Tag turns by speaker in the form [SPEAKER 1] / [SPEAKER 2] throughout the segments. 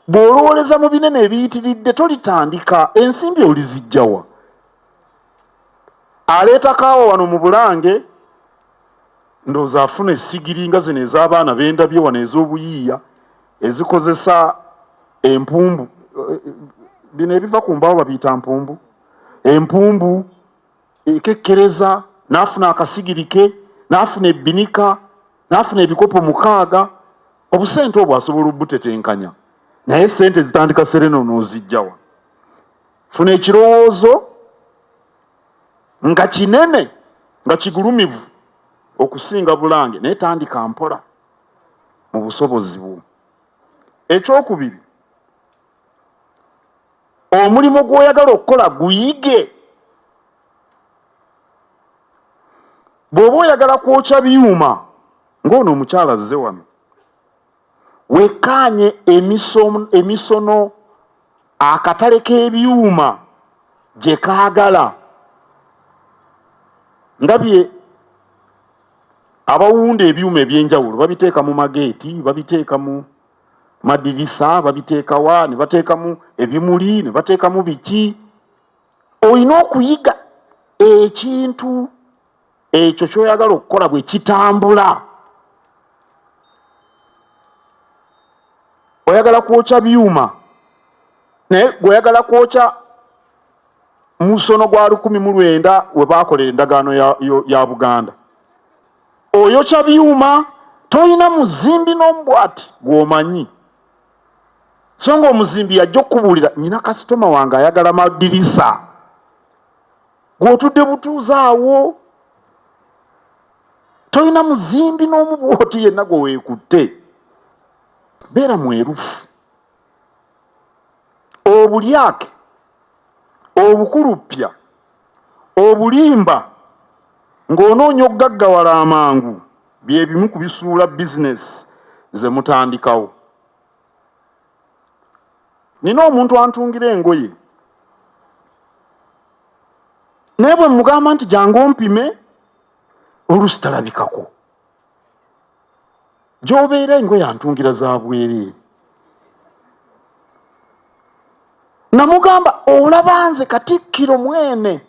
[SPEAKER 1] Bw'olowoleza mu binene ebiyitiridde tolitandika, ensimbi olizijjawa? Aleeta kaawa wano mu Bulange ndowooza afuna essigiri nga zino ez'abaana bendabye wano ez'obuyiiya ezikozesa empumbu eh, eh, bino ebiva ku mbaawo babiyita mpumbu empumbu enkekkereza n'afuna akasigiri ke n'afuna ebbinika n'afuna ebikopo mukaaga obusente obwo asobola obutetenkanya naye sente zitandika serena onoozijjawa funa ekirowoozo nga kinene nga kigulumivu okusinga bulange naye tandika mpola mu busobozi bwo ekyokubiri omulimu gw'oyagala okukola guyige bw'oba oyagala kwokya byuma ng'ono omukyala azze wano wekkaanye emisono akatale k'ebyuma gye kaagala ndabye abawunda ebyuma eby'enjawulo babiteeka mu mageeti babiteeka mu madirisa babiteekawa ne bateekamu ebimuli ne bateekamu biki olina okuyiga ekintu ekyo kyoyagala okukola bwe kitambula oyagala kwokya byuma naye gweoyagala kwokya musono gwa lukumi mu lwenda we baakolera endagaano ya, ya, ya buganda Oyokya byuma tolina muzimbi n'omu bwati gw'omanyi so nga omuzimbi yajja okukubuulira nyina kasitoma wange ayagala madirisa gw'otudde butuuza awo tolina muzimbi n'omu bwoti yenna gwe weekutte beera mwerufu obulyake obukuluppya obulimba ng'onoonya okugaggawala amangu bye bimu ku bisuula bizinesi ze mutandikawo nina omuntu antungira engoye naye bwe mugamba nti jangu ompime olusitalabikako gy'obeera engoye antungira za bwereere namugamba olaba nze katikkiro mwene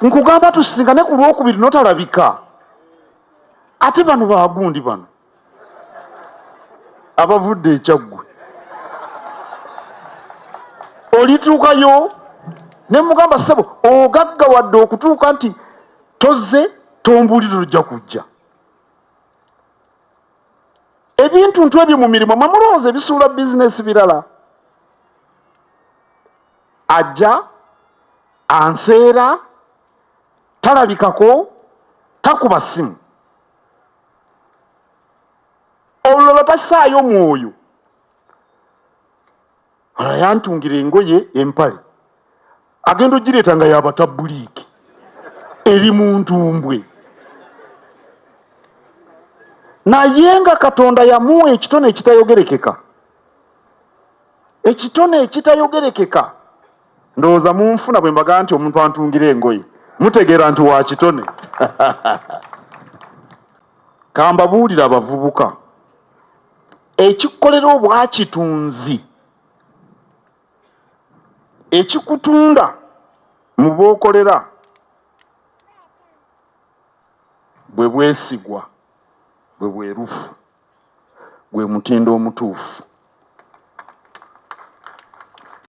[SPEAKER 1] nkugamba tusisinkane ku lwokubiri notalabika ate bano bagundi bano abavudde ekyaggwe olituukayo ne mugamba ssebo ogagga wadde okutuuka nti tozze tombulire ojja kujja ebintu ntu ebyo mu mirimu mwe mulowooza ebisuula bizinesi birala ajja anseera talabikako takuba ssimu olulala tasaayo mwoyo ala yantungira engoye empale agenda ogireeta nga yabatabuliiki eri mu ntumbwe naye nga katonda yamuwa ekitone ekitayogerekeka ekitone ekitayogerekeka ndowooza munfuna bwe mbagaa nti omuntu antungira engoye mutegeera nti wakitone kambabuulira abavubuka ekikolera obwakitunzi ekikutunda mu bookolera bwe bwesigwa bwe bwerufu gwe mutindo omutuufu